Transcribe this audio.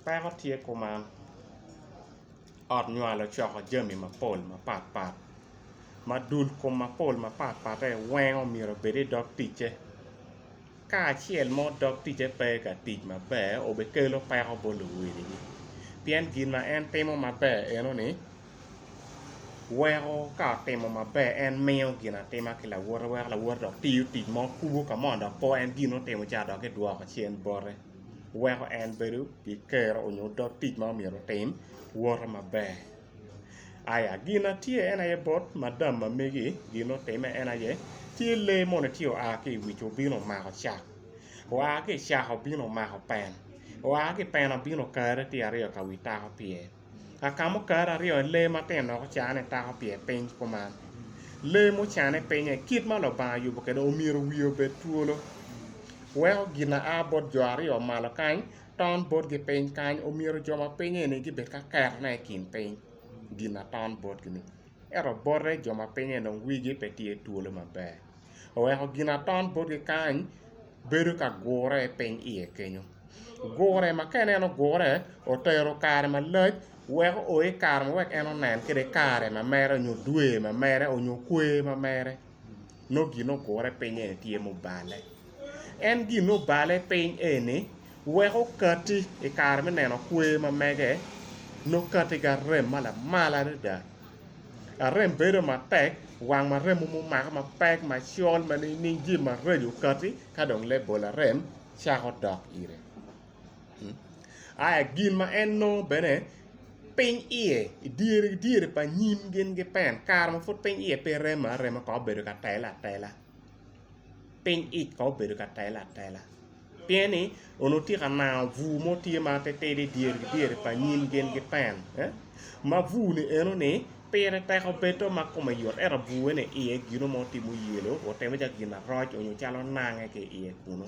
Peko tye kuman, ot nywal ocoko jami mapol mapat pat ma dul kom mapol mapat patte wengo myero obed i dog ticce ka acel mo dog ticce pe ka tic maber obikelo peko bot luwil pien gin ma en timo maber eno ni weko ka otimo maber en miyo gin atima ki lawote weko lawote dok tiyo tic mo kubo ka mo dok po en gin ma otimo ca dok kidwoko cen bote. weko en bedo ki kero nyo dog tic ma myero otim wote maber aya gin ma tye en aye bot madam ma megi gin ma otime en aye tye lee moni tye oa ki i wic obino omako cak oa ki i caka obino omako pen oa ki i pen obino okare tye aryo ka wi tako pye. Akamo kare aryo i lee matino dok ocanne tako pi i piny kuman. Lee mucanne pinye i kit ma Lubanga oyubo kwede omyero wiye obed twolo. Weko gin aa bot jo aryo malo kany ton botgi piny kany omyero jo ma pinye-ni gibed ka ketone i kin piny gin aton botgi-ni. ento bote jo ma pinye dong wigi pe tye twolo maber oweko ginaton botgi kany bedo ka gure piny iye kenyo gure ma ka ineno gure otero kare malac weko o i kare ma wek en onen kwede kare ma mere nyo dwe ma mere onyo kwe ma mere nongo gin ogure piny eni tye mubale. En gin obale piny eni wek okati i kare me neno kwer ma mege nongo kati ki arem ma lamal adada. Arem bedo matek, wang ma remo mumako mapek macol ma nining jami maraco okati ka dong lebol arem cako dok ire. Aya gin ma en nongo bene piny iye i dyere dyere pa nyim gin ki pen kare ma pud piny iye pe remo arema kong obedo ka tele atela piny ic kong obedo ka tele atela pien ni onongo tye ka nango bur mo tye ma ti tidi i dyere ki dyere pa nyim gin ki pen eh? ma bur ni eno ni pire teko bedo ma kome yot ento bure ni iye gino mo timo yelo otimo calo gin aroc onyo calo nange ki iye kunu